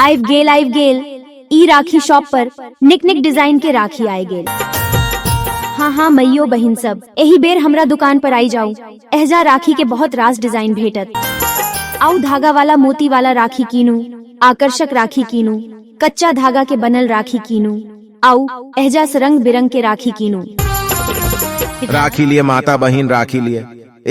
आइब गेल आइब गेल ई राखी शॉप पर निक निक डिजाइन के राखी आए गेल हाँ हाँ मैयो बहिन सब एही बेर हमरा दुकान पर आई जाऊ एहजा राखी के बहुत रास डिजाइन भेटत आऊ धागा वाला मोती वाला राखी कीनू आकर्षक राखी कीनू कच्चा धागा के बनल राखी कीनू आऊ एहजा से रंग बिरंग के राखी कीनू राखी लिए माता बहन राखी लिए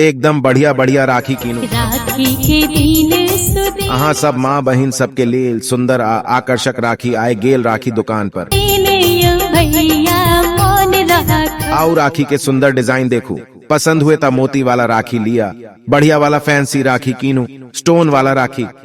एकदम बढ़िया बढ़िया राखी कीनू राखी के दिन सुदे अहाँ सब माँ बहिन सबके लेल सुंदर आ आकर्षक राखी आए गेल राखी दुकान पर ने यो भैया मन राख आओ राखी के सुंदर डिजाइन देखू पसंद हुए ता मोती वाला राखी लिया बढ़िया वाला फैंसी राखी कीनू स्टोन वाला राखी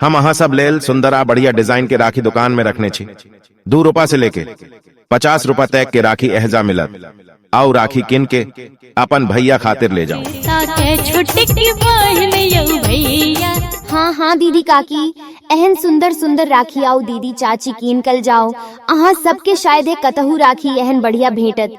हम अहाँ सब लेल सुंदर आ बढ़िया डिजाइन के राखी दुकान में रखने छी दू रूपा से लेके पचास रूपा तक के राखी एहजा मिलत आओ राखी किन के अपन भैया खातिर ले जाओ ताके छोटकी बहन यौ भैया हाँ हाँ दीदी काकी एहन सुंदर सुंदर राखी आओ दीदी चाची कीन कल जाओ अहाँ सबके शायद कतहु राखी एहन बढ़िया भेटत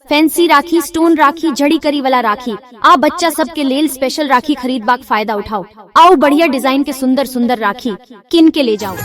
फैंसी राखी स्टोन राखी जड़ी करी वाला राखी आ बच्चा सब के लेल स्पेशल राखी खरीद बाक फायदा उठाओ आओ बढ़िया डिजाइन के सुंदर सुंदर राखी किन के ले जाओ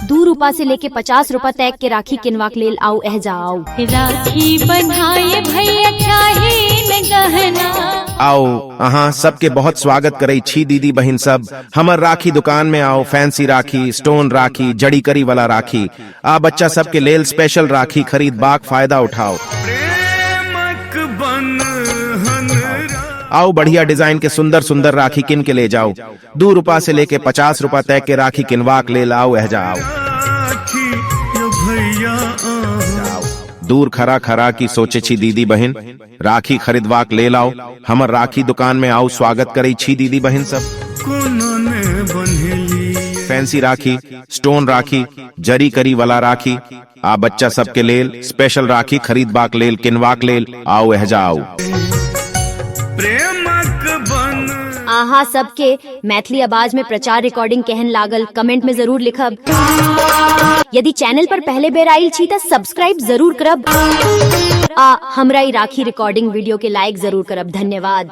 दू रूपा से लेके पचास रूपा तैग के राखी किनवा के लेल आओ एह जाओ राखी बनाए भैया चाहे न गहना आओ अहाँ सबके बहुत स्वागत करे छी दीदी बहन सब हमर राखी दुकान में आओ फैंसी राखी स्टोन राखी जड़ी करी वाला राखी आ बच्चा सबके लेल स्पेशल राखी खरीद बाक फायदा उठाओ प्रेमक बंधन आओ बढ़िया डिजाइन के सुंदर सुंदर राखी किन के ले जाओ दू रूपा से लेके पचास रूपा तय के राखी किनवाक ले लाओ एहजा आओ राखी यो भैया आ दूर खरा खरा की सोचे छी दीदी बहन राखी खरीदवाक लेल आउ हमर राखी दुकान में आउ स्वागत करै छी दीदी बहन सब कोनो ने बन्हेली फैंसी राखी स्टोन राखी जरी करी वाला राखी आ बच्चा सब के लेल स्पेशल राखी खरीदबाक लेल किनवाक लेल आउ एहजा आउ प्रेमक बन अहाँ सबके मैथिली आवाज में प्रचार रिकॉर्डिंग केहन लागल कमेंट में जरूर लिखब यदि चैनल पर पहले बेर आयल छी त सब्सक्राइब जरूर करब आ हमरा ई राखी रिकॉर्डिंग वीडियो के लाइक जरूर करब धन्यवाद